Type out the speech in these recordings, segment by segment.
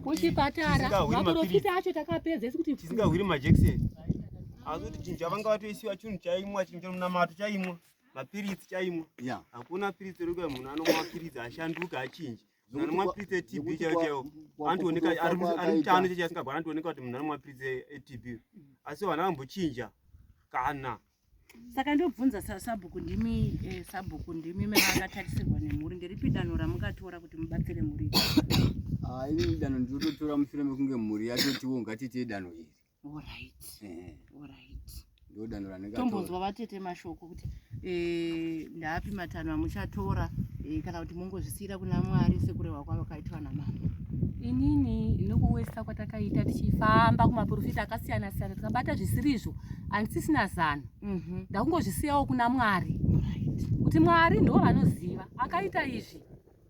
kuchipatara maporofita acho takapedza isi kuti tisingahwiri majekiseni asi kuti chinhu chavanga vatoisiwa chinhu chaimwa chinhu chamunamato chaimwa mapiritsi chaimwa hakuna piritsi rekuya munhu anomwa mapiritsi ashanduka achinji anomapritsa etb chaiwo chaiwo anotooneka ari mutano chechi asingagwara anotooneka kuti munhu anomapritsa etb asi vana vambochinja kana saka ndobvunza sabhuku ndimi eh, sabhuku ndimi mene akatarisirwa nemhuri ndiripi danho ramungatora kuti mubatsire mhuri ah, ini danho ndinototora mushure mekunge mhuri yatotiwo ngatiitei danho iri tombonzwa vatete mashoko kuti eh, ndaapi matanho amuchatora eh, kana kuti mongozvisiyira kuna mwari sekurehwa kwavo kaitwa namama inini nokuwesa kwatakaita tichifamba kumaprofita akasiyana siyana tikabata zvisirizvo handisisina zano mhm. ndakungozvisiyawo kuna mwari kuti mwari ndo vanoziva akaita izvi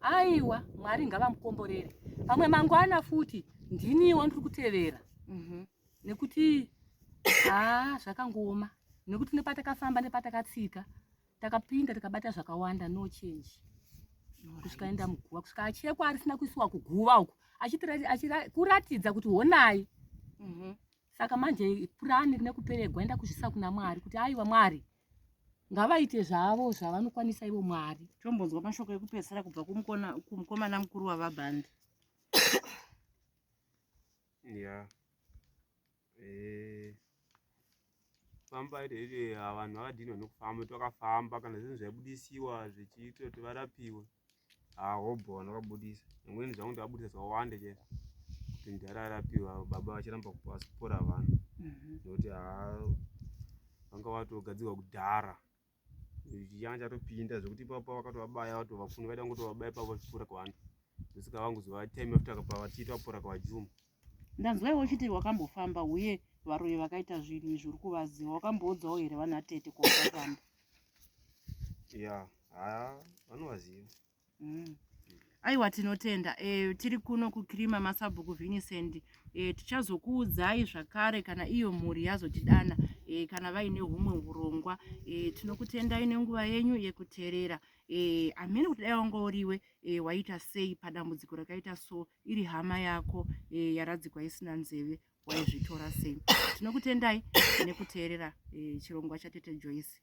aiwa mwari ngavamukomborere pamwe mangwana futi ndiniwo ndiri kutevera mhm. nekuti haa zvakangooma nekuti nepatakafamba nepatakatsika takapinda tikabata zvakawanda no change kusvika enda muguva kusvika achekwa arisina kuisiwa kuguva uku kuratidza kuti honai mhm. saka manje purani rine kuperegwa enda kuzvisa kuna mwari kuti aiwa mwari ngavaite zvavo zvavanokwanisa ivo mwari tombonzwa mashoko ekupedzisira kubva kumukomana mukuru wavabhandi Yeah. Eh. Famba iri iri ah, vanhu havadini vanokufamba twakafamba kana zvinhu zvaibudisiwa zvichiitwa kuti varapiwe. Ah, hobho vanhu vakabudisa. Vamweni zvangu ndavabudisa zvakawanda chaizvo. Kuti mudhara arapiwa baba vachiramba kupora vanhu. Mhm. Nokuti ah, vanga vatogadzirwa kudhara. changa chatopinda zvekuti ipapa vakatovabaya vato vafuni vaida kungotovabaya pavo vachipfuura kwavanhu ndosaka vangozova time after pavachiti vapfuura kwavajuma ndanzwa iwe uchiti wakambofamba uye varoyi vakaita zvinhu izvi uri kuvaziva wakamboudzawo here vana tete kwavakafamba ya haya vanovaziva mm. aiwa tinotenda e, tiri kuno kukirima masabhuku vinicent e, tichazokuudzai zvakare kana iyo mhuri yazotidana e, kana vaine humwe urongwa e, tinokutendai nenguva yenyu yekuterera e, amene kuti dai wanga uriwe e, waita sei padambudziko rakaita so iri hama yako e, yaradzikwa isina nzeve waizvitora sei tinokutendai nekuteerera e, chirongwa chatete joyce